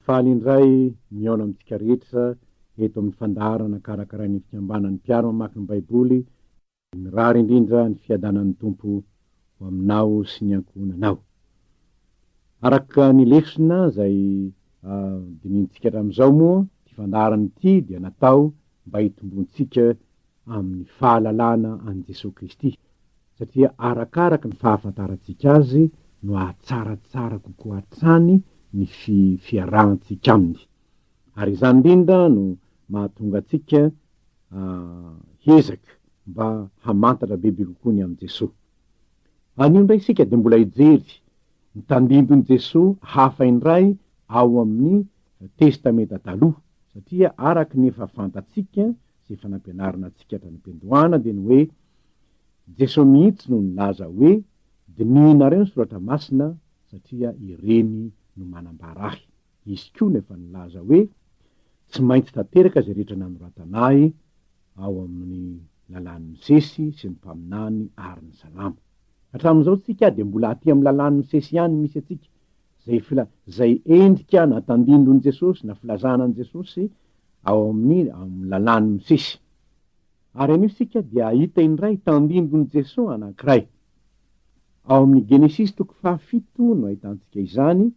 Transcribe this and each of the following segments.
Faly indray mihaona amintsika rehetra eto amin'ny fandaharana karakarain'ny Fikambanan'ny Mpiaro Mamaky ny Baiboly. Mirary indrindra ny fiadanan'ny Tompo ho aminao sy ny ankohonanao. Araka ny lesona izay dinihintsika hatramin'izao moa, ity fandaharana ity dia natao mba hitomboantsika amin'ny fahalalana an'i Jesoa Kristy, satria arakaraka ny fahafantarantsika Azy no hahatsaratsara kokoa hatrany ny fi-fiarahantsika Aminy. Ary izany indrindra no mahatonga antsika hiezaka mba hamantatra bebe kokoa ny amin'i Jesoa. Anio indray isika dia mbola hijery ny tandindon'i Jesoa hafa indray ao amin'ny Testamenta Taloha, satria araka ny efa fantatsika sy efa nampianarina antsika hatrany am-piandohana dia ny hoe, Jeso mihitsy no nilaza hoe, Dinihinareo ny soratra masina satria ireny no manambara ahy. Izy koa no efa nilaza hoe, Tsy maintsy tanteraka izay rehetra nanoratana ahy ao amin'ny lalàn'i Mosesy sy ny mpaminany ary ny salamo. Hatramin'izao tsika dia mbola aty amin'ny lalàn'i Mosesy ihany misy antsika Izay fila, izay endrika na tandindon'i Jesosy na filazana an'i Jesosy ao amin'ny amin'ny lalàn'i Mosesy. Ary anio isika dia hahita indray tandindon'i Jesosy anankiray. Ao amin'ny Genesisy toko fahafito no ahitantsika izany,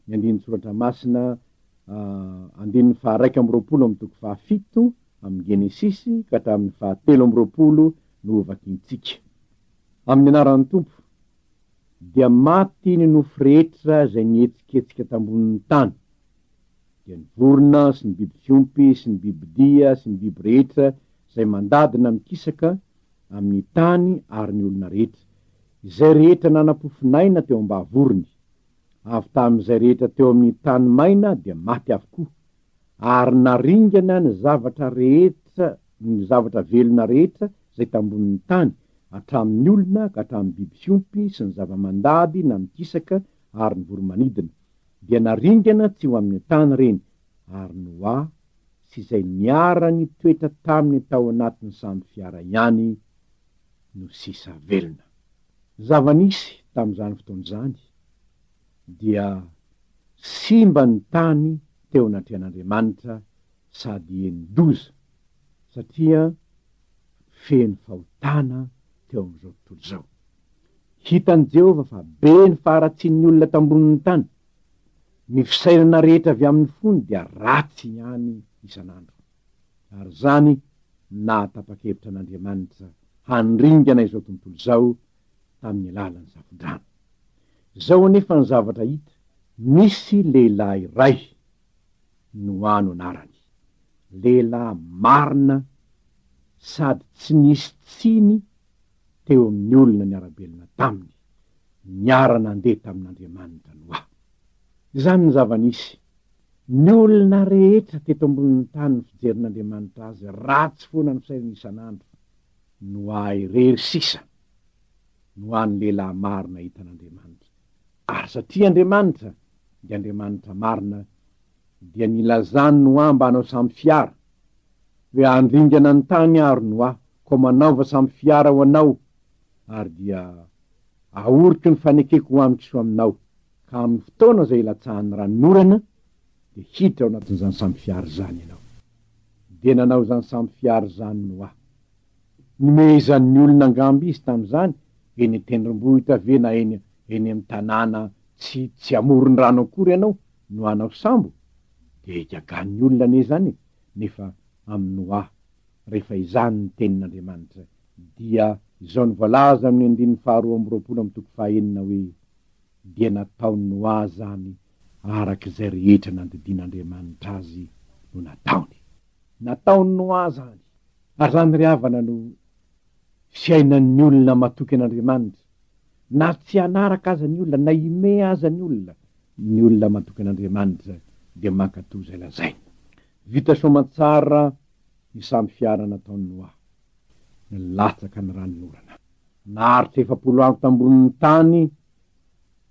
ny andinin-tsoratra masina ah, andininy faharaika amby roapolo amin'ny toko fahafito amin'ny Genesisy ka hatramin'ny fahatelo amby roapolo no hovakintsika. Amin'ny anaran'ny Tompo. Dia maty ny nofo rehetra izay nihetsiketsika tambonin'ny tany, dia ny vorona sy ny biby fiompy sy ny bibidia sy ny biby rehetra izay mandadina mikisaka amin'ny tany ary ny olona rehetra, izay rehetra nana-pofon'aina teo am-bavorony, avy tamin'izay rehetra teo amin'ny tany maina dia maty avokoa. ary naringana ny zavatra rehetra ny zavatra velona rehetra izay tambonin'ny tany, hatramin'ny olona ka hatramin'ny biby fiompy sy ny zava-mandady na mikisaka ary ny voro-manidina, dia naringana tsy ho amin'ny an-tany ireny, ary Noa sy izay niara-nitoetra taminy tao anatin'ny sambo fiara ihany no sisa velona. Zava-nisy tamin'izany fotoana izany. dia simba ny tany teo anatrehan'Andriamanitra sady enin-doza, satria feno fahotana teo amin'izao tontolo izao. Hitan'i Jehovah fa be ny faharatsian'ny olona teo ambonin'ny tany. Ny fisainana rehetra avy amin'ny fony dia ratsy ihany isan'andro. Ary izany no naha tapa-kevitra an'Andriamanitra handringana izao tontolo izao tamin'ny alalan'ny zavodrano. Izao anefa ny zavatra hita, nisy lehilahy iray, Noa no anarany, lehilahy marina sady tsy nisy tsiny teo amin'ny olona niara-belona taminy, niara-nandeha tamin'Andriamanitra Noa. Izany ny zava-nisy. Ny olona rehetra teto ambonin'ny tany ny fijerin'Andriamanitra azy, ratsy foana ny fisainana isan'andro. no ahy irery sisa no an'ny lehilahy marina hitan'Andriamanitra, ary satria Andriamanitra dia Andriamanitra marina dia nilazany no amba hanao samy fiara hoe andringana ny tany ary no ahy koa manaova samy fiara ho anao ary dia ahoriko ny fanekeko ho amin'ny kisoa aminao ka amin'ny fotoana izay hilatsahan'ny ranonorana dia hiditra ao anatin'izany samy fiara izany ianao. dia nanao izany samy fiara izany ny wa. Nomehezan'ny olona angamba izy tamin'izany, eny an-tendrombohitra ve na eny eny amin'ny tanàna tsy tsy amoron-drano akory ianao no hanao sambo? Dia igaganin'ny olona anie izany e! Nefa amin'ny wa, rehefa izany ny tenin'Andriamanitra, dia izao no voalaza amin'ny andininy faharoa amby roapolo amin'ny toko fahaenina hoe, dia nataony ho ahy izany araka izay rehetra nandidian'Andriamanitra azy no nataony. Nataony ho ahy izany, ary izany ry havana no fiainan'ny olona matoky an'Andriamanitra, na tsy hanaraka aza ny olona, na hime aza ny olona, ny olona matoky an'Andriamanitra dia mankatò izay lazainy. Vita soamantsara ny samy fiarana ataony ho ahy. nilatsaka ny ranon'orana. Naharitra efapolo andro tambonin'ny tany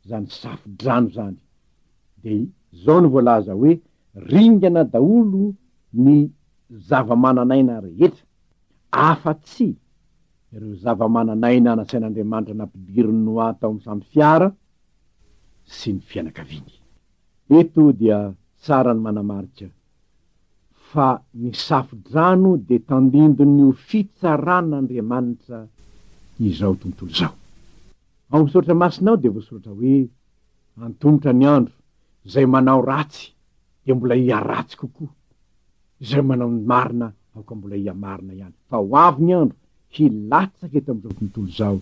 zany safo-drano zany de zao no voalaza hoe ringana daholo ny zava-manan'aina rehetra afa tsy ireo zava-manan'aina nasain'Andriamanitra nampidirin'i Noa tao amin'ny sambo fiara sy ny fianakaviany. Eto dia tsara ny manamarika fa ny Safodrano dia tandindon'io fitsaran'Andriamanitra izao tontolo izao. Ao amin'ny Soratra Masina ao dia voasoratra hoe, Antomotra ny andro, izay manao ratsy dia mbola hiharatsy kokoa, izay manao ny marina aoka mbola hihamarina ihany, fa ho avy ny andro, hilatsaka eto amin'izao tontolo izao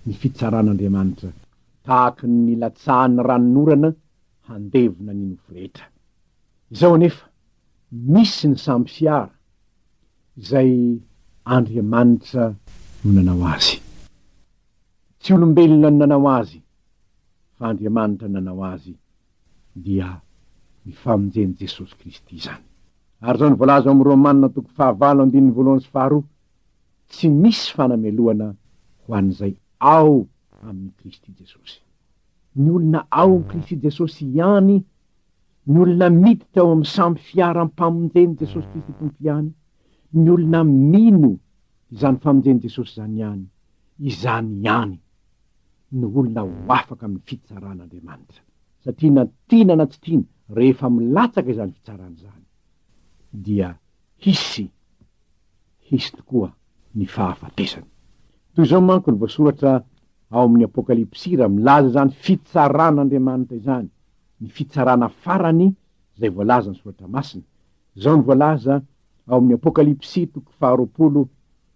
ny fitsaran'Andriamanitra, tahaka ny nilatsahan'ny ranon'orana handevona ny nofo rehetra. Izao anefa, misy ny samy fiara izay Andriamanitra no nanao azy. Tsy olombelona no nanao azy, fa Andriamanitra no nanao azy, dia ny famonjen'i Jesosy Kristy izany. Ary izao no voalaza ao amin'ny Romana toko fahavalo andininy voalohany sy faharoa, Tsy misy fanamelohana ho an'izay ao amin'i Kristy Jesosy. Ny olona ao amin'i Kristy Jesosy ihany Ny olona miditra ao amin'ny sambo fiaram-pamonjen'i Jesosy Kristy Tompo ihany, ny olona mino izany famonjen'i Jesosy izany ihany, izany ihany no olona ho afaka amin'ny fitsaran'Andriamanitra. Satria na tiana na tsy tiana, rehefa milatsaka izany fitsarana izany, dia hisy, hisy tokoa ny fahafatesana. Toy izao manko ny voasoratra ao amin'ny Apokalypsy raha milaza izany fitsaran'Andriamanitra izany, ny fitsarana farany izay voalazan'ny Soratra Masina. Izao no voalaza ao amin'ny Apokalypsy toko faharoapolo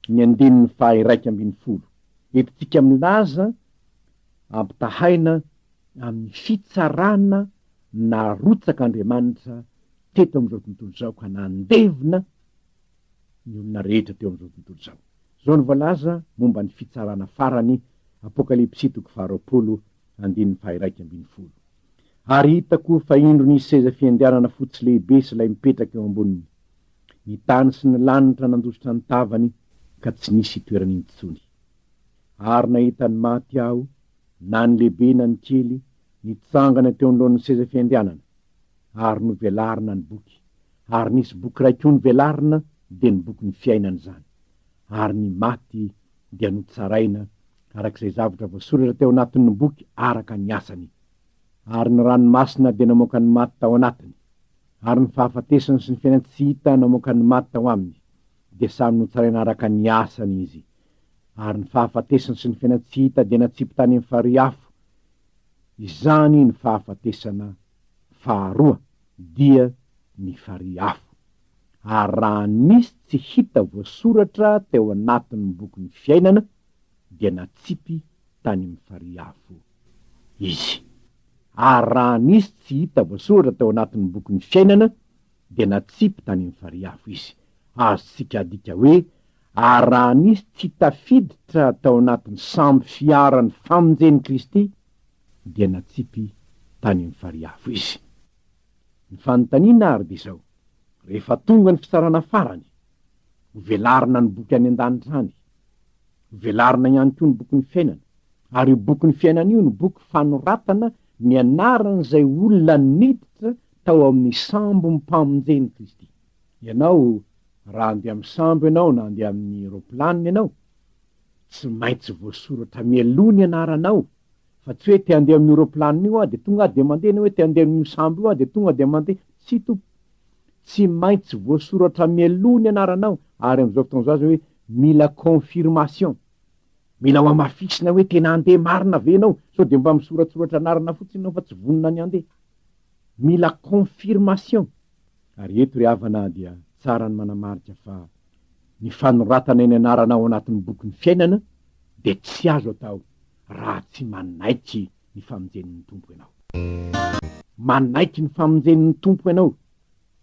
ny andininy faha-iraika ambin'ny folo, Entintsika milaza ampitahaina amin'ny fitsarana narotsaka Andriamanitra teto amin'izao tontolo izao ka nandevina ny olona rehetra teo amin'izao tontolo izao. Izao no voalaza momba ny fitsarana farany, Apokalypsy toko faharoapolo Andininy faha-iraika ambin'ny folo Ary hitako fa indro nisy seza fiandrianana fotsy lehibe sy lay mipetraka eo amboniny. Ny tany sy ny lanitra nandositra ny tavany ka tsy nisy itoerany intsony. Ary nahita ny maty aho, na ny lehibe na ny kely, nitsangana teo anoloan'ny seza fiandrianana. Ary novelarina ny boky, ary nisy boky iray koa novelarina, dia ny bokin'ny fiainana izany. Ary ny maty dia notsaraina araka izay zavatra voasoratra teo anatin' ny boky araka ny asany. Ary ny rano masina dia namoaka ny maty tao anatiny, ary ny fahafatesana sy ny fiainana tsy hita namoaka ny maty tao aminy, dia samy notsaraina araka ny asany izy. Ary ny fahafatesana sy ny fiainana tsy hita dia natsipy tany amin' ny farihy afo. Izany ny fahafatesana faharoa, dia ny farihy afo. Ary raha nisy tsy hita voasoratra teo anatin' ny bokin' ny fiainana, dia natsipy tany amin'ny farihy avo izy. Ary raha nisy tsy hita voasoratra tao anatin'ny bokin'ny fiainana, dia natsipy tany amin'ny farihy avo izy. Azontsika adika hoe, Ary raha nisy tsy tafiditra tao anatin'ny sambo fiaran'ny famonjen'i Kristy, dia natsipy tany amin'ny farihy avo izy. Ny fanontaniana àry dia izao, Rehefa tonga ny fitsarana farany, Hovelarina ny boky any an-danitra any. Hovelarina ihany koa ny bokin'ny fiainana. Ary io bokin'ny fiainana io no boky fanoratana ny anaran'izay olona niditra tao amin'ny sambom-pamonjen'i Kristy. Ianao, raha handeha amin'ny sambo ianao na handeha amin'ny roplanina ianao, tsy maintsy voasoratra mialoha ny anaranao, fa tsy hoe te handeha amin'io roplanina io aho dia tonga aho dia mandeha na hoe te handeha amin'io sambo io aho dia tonga dia mandeha. Tsia, Tompo. Tsy maintsy voasoratra mialoha ny anaranao ary amin'izao fotoana izao aza hoe mila confirmation, mila hohamafisina hoe tena handeha marina ve ianao sao dia mba misoratsoratra anarana fotsiny ianao fa tsy vonona ny handeha. Mila confirmation. Ary eto ry havana a dia tsara ny manamarika fa ny fanoratana ny anarana ao anatin'ny bokin'ny fiainana dia tsy azo atao raha tsy manaiky ny famonjen'ny Tompo ianao. Manaiky ny famonjen'ny Tompo ianao,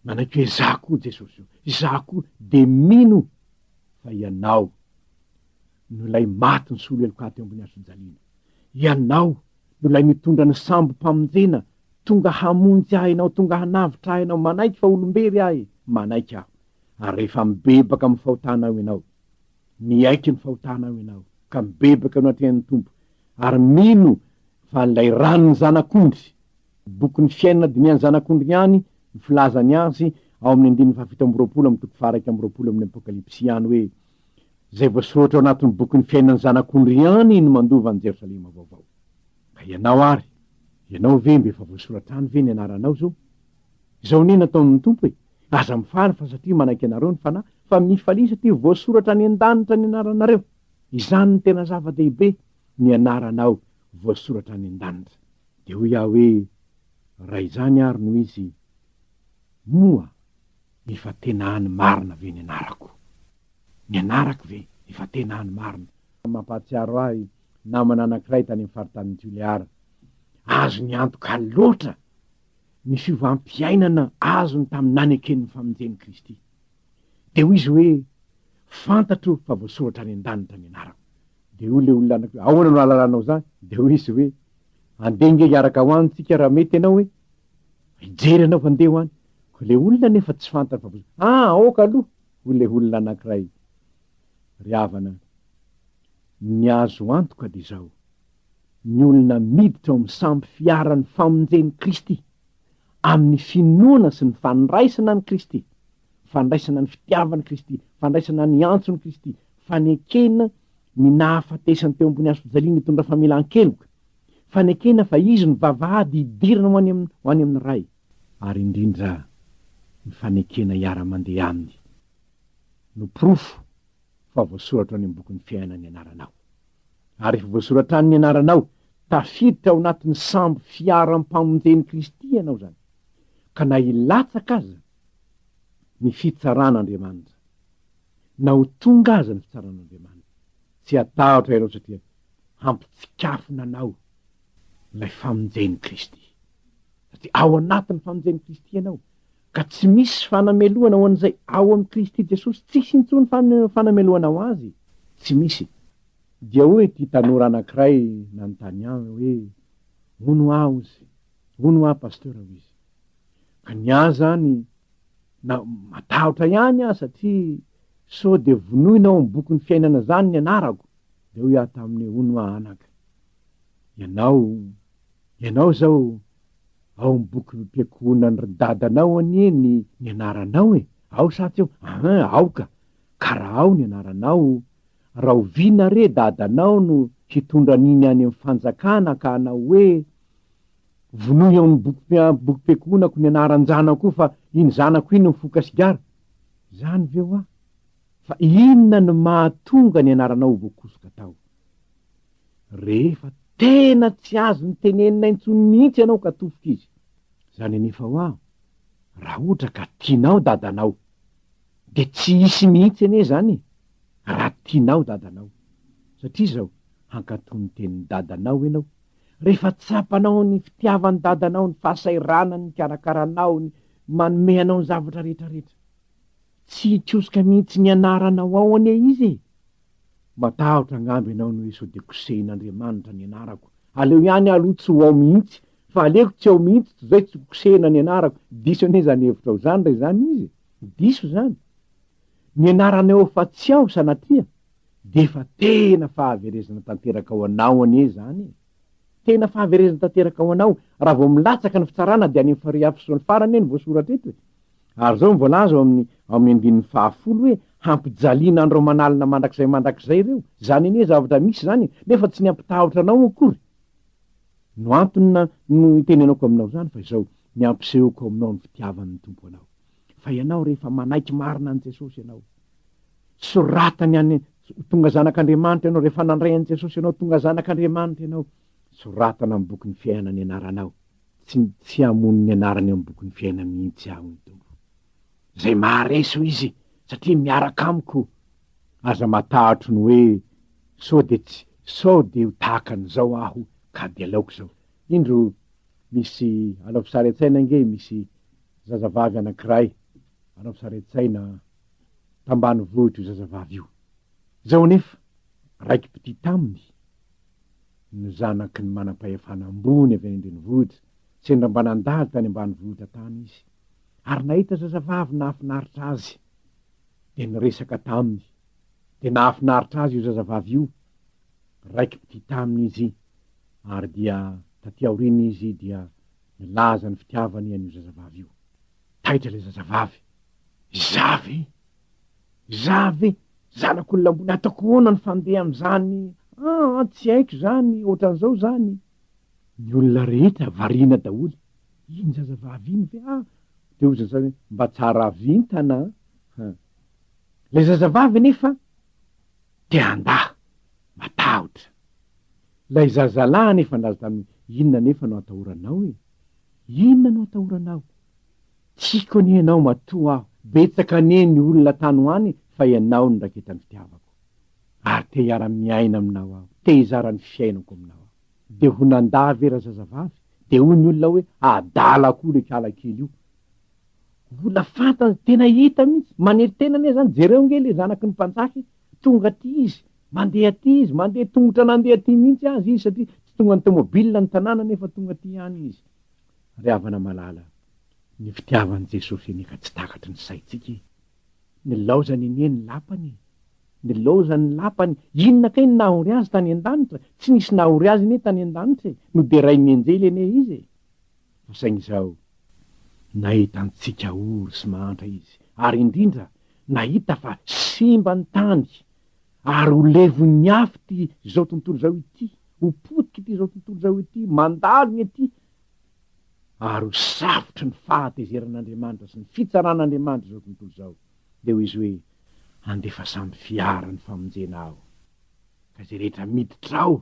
manaiky hoe izaho koa Jesosy o, izaho koa, dia mino fa Ianao no ilay maty nisolo heloka ahy teo ambony hazojaliana. Ianao no ilay mitondra ny sambom-pamonjena, tonga hamonjy ahy Ianao, tonga hanavotra ahy Ianao, manaiky fa olom-bery ahy, manaiky aho, ary rehefa mibebaka amin'ny fahotanao Ianao, Miaiky ny fahotanao ianao, ka mibebaka eo anatrehan'ny Tompo, ary mino fa ilay ran'ny Zanak'ondry, bokin'ny fiainana dinihan'ny Zanak'ondry ihany no filazany azy ao amin'ny andininy fahafito amby roapolo amin'ny toko faharaika amby roapolo amin'ny Apokalypsy ihany hoe, Izay voasoratra ao anatin'ny bokin'ny fiainan'ny Zanak'ondry ihany no mandova an'i Jerosalema Vaovao. Ka ianao ary, ianao ve mba efa voasoratra any ve ny anaranao izao? Izao anie nataon'ny Tompo e! Aza mifaly fa satria manaiky anareo ny Fanahy, fa mifalia satria voasoratra any an-danitra ny anaranareo. Izany no tena zava-dehibe, ny anaranao voasoratra any an-danitra. Dia hoy aho hoe, Raha izany ary no izy, moa efa tena any marina ve ny anarako? Ny anarako ve efa tena any marina? Mampahatsiaro ahy namana anankiray tany amin'ny faritanin'i Tuléar. Azony antoka loatra! ny fiovam-piainana azony tamin'ny nanekeny ny famonjen'i Kristy. Dia hoy izy hoe, Fantatro fa voasoratra any an-danitra ny anarako. Dia hoy ilay olona anankiroa, Ahoana no hahalalanao izany? Dia hoy izy hoe, Andeha ange hiaraka ho any isika raha mety ianao e! Hijery anao fa andeha ho any. Koa ilay olona anefa tsy fantany fa voasoratra. Ah, aoka aloha! hoy ilay olona anankiray. Ry havana, ny azo antoka dia izao, ny olona miditra ao amin'ny sampy fiaran'ny famonjen'i Kristy, amin'ny finoana sy ny fandraisana an'i Kristy, fandraisana ny fitiavan'i Kristy, fandraisana ny antson'i Kristy, fanekena ny nahafatesany teo ambony hazofijaliana hitondra famelan-keloka, fanekena fa Izy no vavahady hidirana ho any, ho any amin'ny Ray, ary indrindra ny fanekena hiara-mandeha Aminy no porofo fa voasoratra any amin'ny bokin'ny fiainana ny anaranao. Ary efa voasoratra any ny anaranao, tafiditra ao anatin'ny sambo fiaram-pamonjen'i Kristy ianao izany, ka na hilatsaka aza ny fitsaran'Andriamanitra, na ho tonga aza ny fitsaran'Andriamanitra, tsy hatahotra ianao satria hampitsikafona anao ilay famonjen'i Kristy, satria ao anatin'ny famonjen'i Kristy ianao. Ka tsy misy fanamelohana ho an'izay ao amin'i Kristy Jesosy, tsisy intsony fanamelohana ho azy, tsy misy. Dia hoy ity tanora anankiray nanontany ahy hoe, Hono aho ozy, hono aho Pasteur ozy. Ka ny ahy izany, na matahotra ihany aho satria sao dia vonoina ao amin'ny bokin'ny fiainana izany ny anarako, dia hoy aho taminy hoe, Hono aho anaka. Ianao, ianao izao ao amin'ny bokim-piankohonan ry dadanao anie ny ny anaranao e! Ao sa tsy ao? Ahin, aoka! Ka raha ao ny anaranao, rahoviana re dadanao no hitondra an'iny any amin'ny fanjakana ka hanao hoe, Vonoy ao amin'ny bokim-pia, bokim-piankohonako ny anaran-janako io fa iny zanako iny mifoka sigara? Izany ve hoa? Fa inona no mahatonga ny anaranao ho voakosoka tao? Rehefa tena tsy azony tenenina intsony mihitsy ianao ka tofoka izy, izany anefa hoa raha ohatra ka tianao dadanao, dia tsy hisy mihitsy anie izany e! raha tianao dadanao, satria izao, hankatò ny tenin'i dadanao ianao, rehefa tsapanao ny fitiavan'i dadanao, ny fahasahiranany, ny fikarakaranao, ny manome anao ny zavatra rehetrarehetra. Tsy hikosoka mihitsy ny anaranao ao anie izy e! Matahotra angamba ianao ny hoe sao dia kosehin'Andriamanitra ny anarako. Aleo ihany aloha tsy ho ao mihitsy, fa aleoko tsy ao mihitsy toy izay tsy ho kosehina ny anarako. Diso anie izany hevitrao izany raha izany izy e! Diso izany. Ny anarana eo fa tsy ao sanatria, dia efa tena fahaverezana tanteraka ho anao anie izany e! Tena fahaverezana tanteraka ho anao. Raha vao milatsaka ny fitsarana dia any amin'ny farihy hafizony farany anie no voasoratra eto e. Ary izao no voalaza ao amin'ny ao amin'ny andininy fahafolo hoe hampijaliana an'ireo manalina mandrakizay mandrakizay ireo. Izany anie zavatra misy izany e, nefa tsy ny hampitahotra anao akory no antony na no itenenako aminao izany fa izao, ny hampisehoko aminao ny fitiavan'ny Tompo anao. Fa ianao rehefa manaiky marina an'i Jesosy ianao Soratany any, Ho tonga zanak'Andriamanitra ianao, rehefa nandray an'i Jesosy ianao, tonga zanak'Andriamanitra ianao. Soratana amin'ny bokin'ny fiainana ny anaranao. Tsy, tsy hamono ny anarany eo amin'ny bokin'ny fiainana mihitsy Aho ny Tompo. Izay maharesy hoy Izy, satria miaraka amiko. Aza matahotro ny hoe, Sao dia tsy, sao dia ho tahaka an'izao aho, ka dia aleoko izao. Indro, misy, alaovy sary an-tsaina ange, misy zazavavy anankiray, alaovy sary an-tsaina, tambanivohitra io zazavavy io. Izao anefa, raiki-pitia taminy no zanaky ny manam-pahefana ambony avy any an-drenivohitra. Sendra mba nandalo tany ambanivohitra tany izy, ary nahita zazavavy nahafinaritra azy, dia niresaka taminy. Dia nahafinaritra azy io zazavavy io, raiki-pitia taminy izy, ary dia taty aoriana izy dia nilaza ny fitiavany an'io zazavavy io. Taitra ilay zazavavy. Za ve? Za ve? Zanak'olona ambony ataoko ahoana ny fandeha amin'izany aa tsy haiko izany ohatran'izao izany. Ny olona rehetra variana daholo, iny zazavavy iny ve aa dia hozy ny sasany hoe mba tsara vintana an! haa! Ilay zazavavy anefa te handà, matahotra. Ilay zazalahy anefa nazy tamin'ny hoe inona anefa no atahoranao e? Inona no atahoranao? Tiako anie ianao matoa aho, betsaka anie ny olona tany ho any fa ianao no raketany fitiavako. Ary te hiara miaina aminao aho, te hizara ny fiainako aminao aho. Dia ho nandà ve razazavavy? Dia hoy ny olona hoe adala koa le kala kely io. Mbola fantany, tena hita mihitsy, manery tena anie zany, jereo nge le zanaky ny mpanjaka e, tonga aty izy, mandeha aty izy, mandeha tongotra nandeha aty mihitsy aza izy satria tsy tonga ny tomobile ny tanàna nefa tonga aty ihany izy. Ry havana malala, ny fitiavan'i Jesosy anie ka tsy takatry ny saintsika e! Nilaozany anie ny lapany e! Nilaozany ny lapany, inona kay no nahory azy tany an-danitra? Tsy nisy nahory azy anie tany an-danitra e! Noderain'ny anjely anie izy e! Fa saingy izao, nahita antsika ory sy mahantra izy, ary indrindra, nahita fa simba ny tany Ary ho levon'ny afo ity izao tontolo izao ity, ho potika ity izao tontolo izao ity, mandalina ity, ary ho safotry ny fahatezeran'Andriamanitra sy ny fitsaran'Andriamanitra izao tontolo izao. Dia hoy izy hoe, Andefa samy fiara ny famonjena aho, ka izay rehetra miditra ao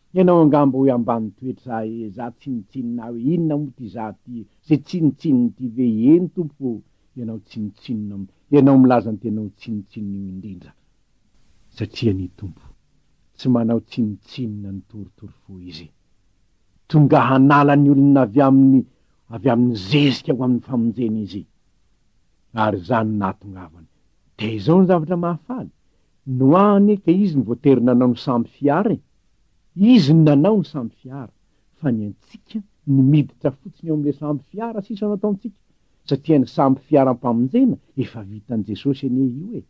Ianao angaha mba hoe ambany toetra e, za tsinontsinona aho e, inona moa ty za ty, ze tsinontsinony ty ve, eny tompoko ô, ianao tsinontsinona, ianao milaza ny tena ho tsinontsinona io indrindra, satria ny Tompo tsy manao tsinontsinona ny torotoro fo izy, tonga hanala ny olona avy amin'ny avy amin'ny zezika ho amin'ny famonjena izy, ary za no nahatongavany, dia izao ny zavatra mahafaly, Noah anie ka izy no voatery nanao ny sambo fiara e! Izy no nanao ny sambo fiara fa ny antsika ny miditra fotsiny ao amin'ilay sambo fiara sisa no ataontsika satria ny sambo fiaram-pamonjena efa vitan'i Jesosy anie io e!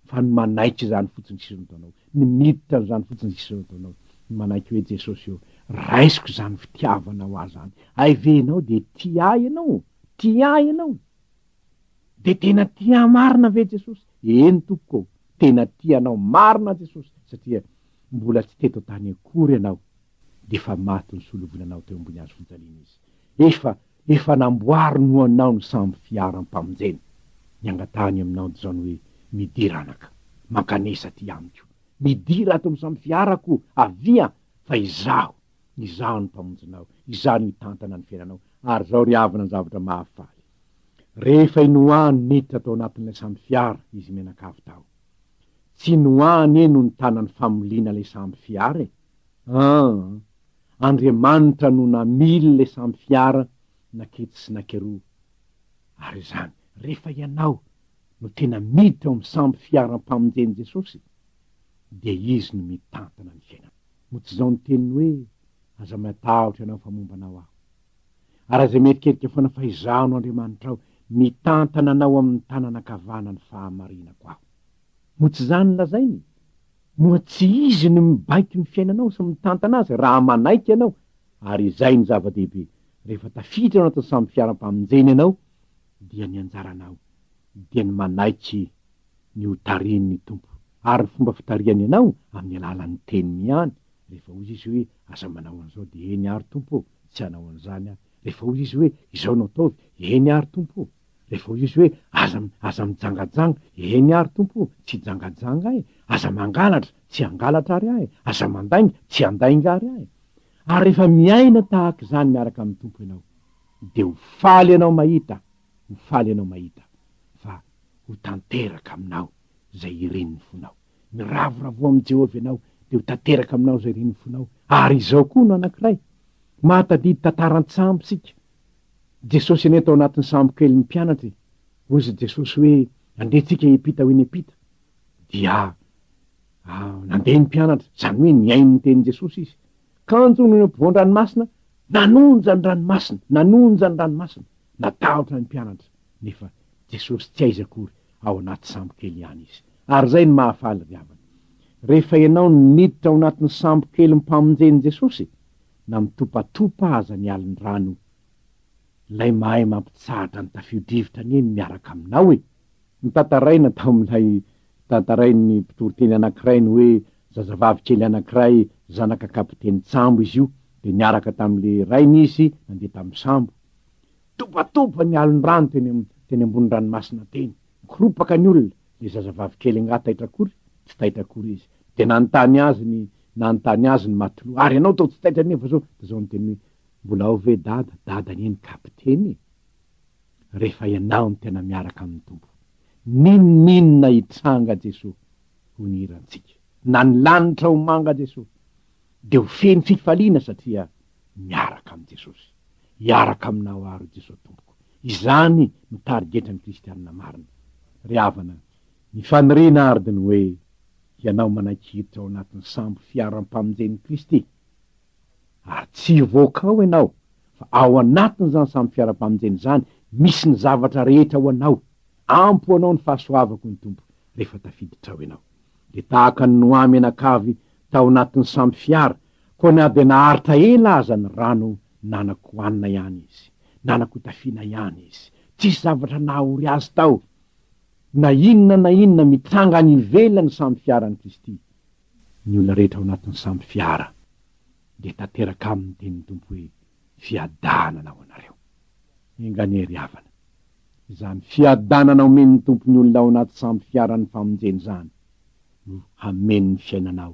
Fa ny manaiky izany fotsiny sisa no ataonao, ny miditra an'izany fotsiny sisa no ataonao, ny manaiky hoe Jesosy ô, raisiko izany fitiavanao ahy izany, hay ve ianao dia tia ahy ianao? Tia ahy ianao? Dia tena tia ahy marina ve Jesosy? Eny tompoko ô, tena tia anao marina Jesosy satria mbola tsy teto an-tany akory ianao dia efa maty nisolovoina anao teo ambony hazo fijaliana Izy. Efa, efa namboariny ho anao ny sambo fiaram-pamonjena. Ny angatahany aminao dia izany hoe, Midira anaka, mankanesa aty amiko. Midira ato amin'ny sambo fiarako, avia, fa Izaho, Izaho no Mpamonjinao, Izaho no hitantana ny fiainanao. Ary izao ry havana ny zavatra mahafaly. Rehefa i Noa no niditra tao anatin'ilay sambo fiara izy mianakavy tao. Tsy i Noa anie no nitana ny famoliana ilay sambo fiara e! Aa! Andriamanitra no namily ilay sambo fiara naketsy sy nakeroa. Ary izany, rehefa ianao no tena miditra ao amin'ny sambo fiaram-pamonjen'i Jesosy, dia Izy no mitantana ny fiainanao. Moa tsy izao ny teniny hoe, Aza matahotra ianao fa momba anao aho. Ary aza mieritreritra foana fa Izaho no Andriamanitrao, mitantana anao amin'ny tanana ankavanan'ny fahamarinako Aho. Moa tsy izany no lazainy? Moa tsy Izy no mibaiko ny fiainanao sy mitantana azy raha manaiky ianao? Ary izay no zava-dehibe, rehefa tafiditra ao anatin'ny sambo fiaram-pamonjena ianao, dia ny anjaranao dia ny manaiky ny hotarihin'ny Tompo, ary ny fomba fitarihany anao amin'ny alalan'ny Teniny ihany, rehefa hoy Izy hoe, Aza manao an'izao, dia eny ary Tompo ô, Tsy hanao an'izany aho. Rehefa hoy izy hoe, Izao no ataovy, Eny àry, Tompo o! Rehefa hoy izy hoe, Aza, aza mijangajanga, Eny àry, Tompo o! Tsy hijangajanga aho e! Aza mangalatra, Tsy hangalatra àry aho e! Aza mandainga, Tsy handainga àry aho e! Ary rehefa miaina tahaka izany miaraka amin'ny Tompo ianao, dia ho faly ianao mahita, ho faly ianao mahita, fa ho tanteraka aminao izay irin'ny fonao. Miravoravoa amin'i Jehovah ianao, dia ho tanteraka aminao izay ren'ny fonao. Ary izao koa no anankiray, Mahatadidy tantara an-tsambo isika. Jesosy anie tao anatin'ny sambo kely ny mpianatra e! Hozy Jesosy hoe, Andehantsika hiampita ho eny am-pita. Dia nandeha ny mpianatra, izany hoe nihaino ny tenin'i Jesosy izy. Kanjo nony am-povoan-dranomasina, nanonja ny ranomasina, nanonja ny ranomasina. Natahotra ny mpianatra. nefa Jesosy tsy aiza akory ao anaty sambo kely ihany izy. Ary izay no mahafaly ry havana. Rehefa ianao no niditra ao anatin'ny sambo kelin'ny mpamonjen'i Jesosy, na mitopatopa aza ny alin'ny rano, Ilay mahay mampitsahatra ny tafio-drivotra anie no miaraka aminao e! Notantaraina tao amin'ilay tantarain'ny mpitoriteny anankiray ny hoe zazavavy kely anankiray zanaka kapitenin-tsambo izy io, dia niaraka tamin'ilay rainy izy nandeha tamin'ny sambo. Tobatoba ny alon-drano teny teny ambony ranomasina teny, nikoropaka ny olona, le zazavavy kely angaha taitra akory, tsy taitra akory izy, de nanontany azy ny nanontany azy ny matelot, ary ianao tao tsy taitra anie fa zao, de zao niteny hoe, mbola ao ve dada, dada anie ny kapiteny e! rehefa ianao no tena miaraka amin'ny Tompo, n'inon'inona hitranga Jesoa ho ny hirantsika, na ny lanitra ho manga Jesoa, de ho feno fifaliana satria miaraka amin'i Jesosy. Hiaraka aminao aho, ry Jesosy Tompoko. Izany no tarigetran'ny kristianina marina. Ry havana, ny faniriana àry dia ny hoe hianao manaiky hiditra ao anatin'ny sambo fiaram-pamonjen'i Kristy, ary tsy hivoaka ao ianao, fa ao anatin'izany sambo fiaram-pamonjena izany misy ny zavatra rehetra ho anao, ampy ho anao ny fahasoavako ny Tompo rehefa tafiditra ao ianao. Dia tahaka ny nohamenakavy tao anatin'ny sambo fiara, koa na dia naharitra ela aza ny rano nanakohanina ihany izy, nanakotafiana ihany izy, tsisy zavatra nahaory azy tao. Na inona na inona mitranga any ivelan'ny sambo fiaran'i Kristy, ny olona rehetra ao anatin'ny sambo fiara dia tanteraka aminy ny tenin'ny Tompo hoe, Fiadanana ho anareo. Enga anie ry havana, izany fiadanana omen'ny Tompo ny olona ao anaty sampy fiaran'ny famonjena izany no hameno ny fiainanao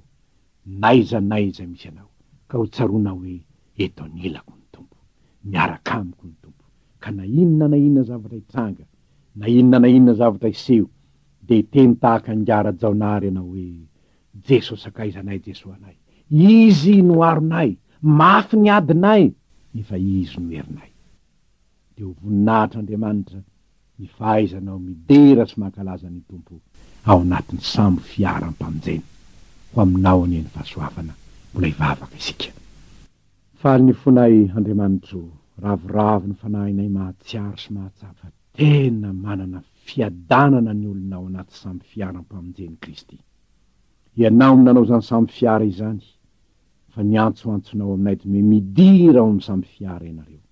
n'aiza n'aiza misy anao ka ho tsaroanao hoe eto anilako ny Tompo, miaraka amiko ny Tompo ka na inona na inona zavatra hitranga na inona na inona zavatra hiseho dia hiteny tahaka an'i Ngara Jaonary ianao hoe Jeso sakaiza anay Jeso anay, Izy no aronay, mafy ny adinay nefa Izy no herinay. dia ho voninahitr'Andriamanitra ny fahaizanao midera sy mankalaza ny Tompo ao anatin'ny sambo fiara ampanjena. Ho aminao anie ny fahasoavana, mbola hivavaka isika. Faly ny fonay, Andriamanitro, ravoravo ny fanahinay mahatsiaro sy mahatsapa fa tena manana fiadanana ny olona ao anaty sambo fiara ampamonjen'i Kristy. Ianao no nanao izany sambo fiara izany, fa ny antsoantsonao aminay dme midira ao amin'ny sambo fiara ianareo.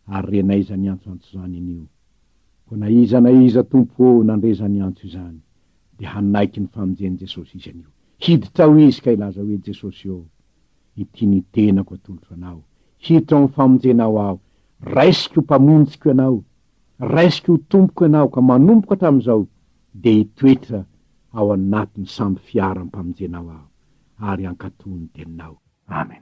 Ary rena iza niantso antso izany anio? Koa na iza na iza Tompo ô nandre izany antso izany dia hanaiky ny famonjen'i Jesosy izy anio. Hiditra ao izy ka hilaza hoe, Jesosy ô, ity ny tenako atolotro Anao. Hiditra ao amin'ny famonjenao aho. Raisiko ho Mpamonjiko Ianao. Raisiko ho Tompoko Ianao ka manomboka hatramin'izao dia hitoetra ao anatin'ny sambo fiaram-pamonjenao aho ary hankatò ny Teninao. Amen.